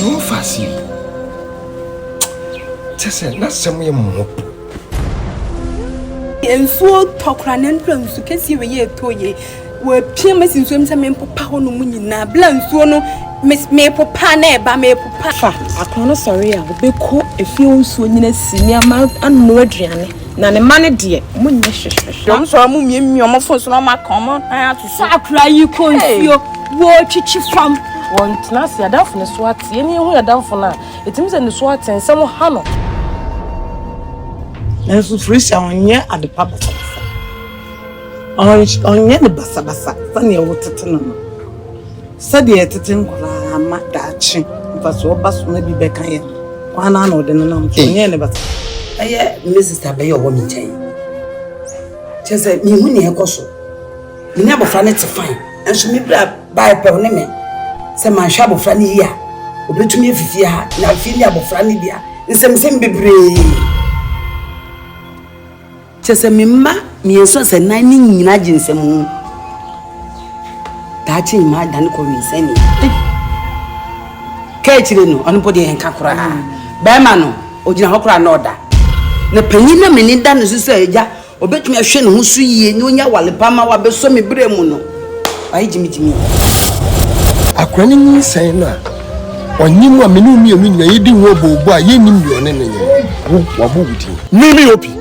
Mfaase bu. Kyɛ sɛ n'asɛm yɛ mmɔbɔ. Nsuo tɔ koraa na mprɛnsu kɛseɛ wei yɛ ɛtɔ yie. Wɔapia me asi nsuom sɛ mempopa hɔ no mu nyinaa. Berɛ a nsuo no mepopa na ɛba mepopa. Fa akono no sɔre a, ɔbɛkɔ efie hɔ nsuo nyina si nneɛma anoa aduane. Na ne mma no deɛ, wɔn nyɛ hwehwehwɛ. Deɛ wɔn sɔre wɔn mmiamia wɔn fon so na wɔn aka wɔn nan ato so. Fa akwadaa yi kɔ nsuo, wɔretwitwi fam. Wɔntena ase, adamfo no so ate. Yɛn yɛhu yɛn adamfo no a, ɛtumi sɛ ne so ate, nsɛm ha no. Nanso Felicia, ɔnyɛ adepa basabasaa. Ɔnyɛ no basabasa sɛdeɛ wotete no no. Sɛdeɛ yɛtete nkwadaa ma daakye mfasoɔ ba so na bi bɛka yɛn no, ɔno ara na ɔde no nam so. Ɔnyɛɛ no basabasa. Bɛyɛ me sista bɛyɛ ɔwɔ me nkyɛn. Kyerɛ sɛ mehu nea ɛkɔ so. Me ne abɔfra no te fine. Nanso me bra baeɛ pɛ ɔne me sɛ manhwɛ abɔfra no yie a ɔbɛtumi afi fie ha na afei ne abɔfra no deɛ nsɛmnsɛm bebree. Kyerɛ sɛ me mma mmiɛnsa a sɛ nan no nyina gye nsam ho daakye mmaa dane kɔ winsɛn ni ka akyire no ɔno mpo deɛ ɛnka koraa bɛrima no ɔgyina hɔ koraa na ɔda na panyin na mene da no so sɛ agya ɔbɛtumi ahwɛ ne ho so yie na ɔnya wale pa ma wabɛsɔ me berɛ mu no wayɛ gyimigyimi akora no nyinsɛn no a ɔnye mu a mene mmienu nyina yɛdi ho ɔbɔɔbɔ a yɛnnim deɛ ɔne no yɛ wo wabɔ wo din mimi opi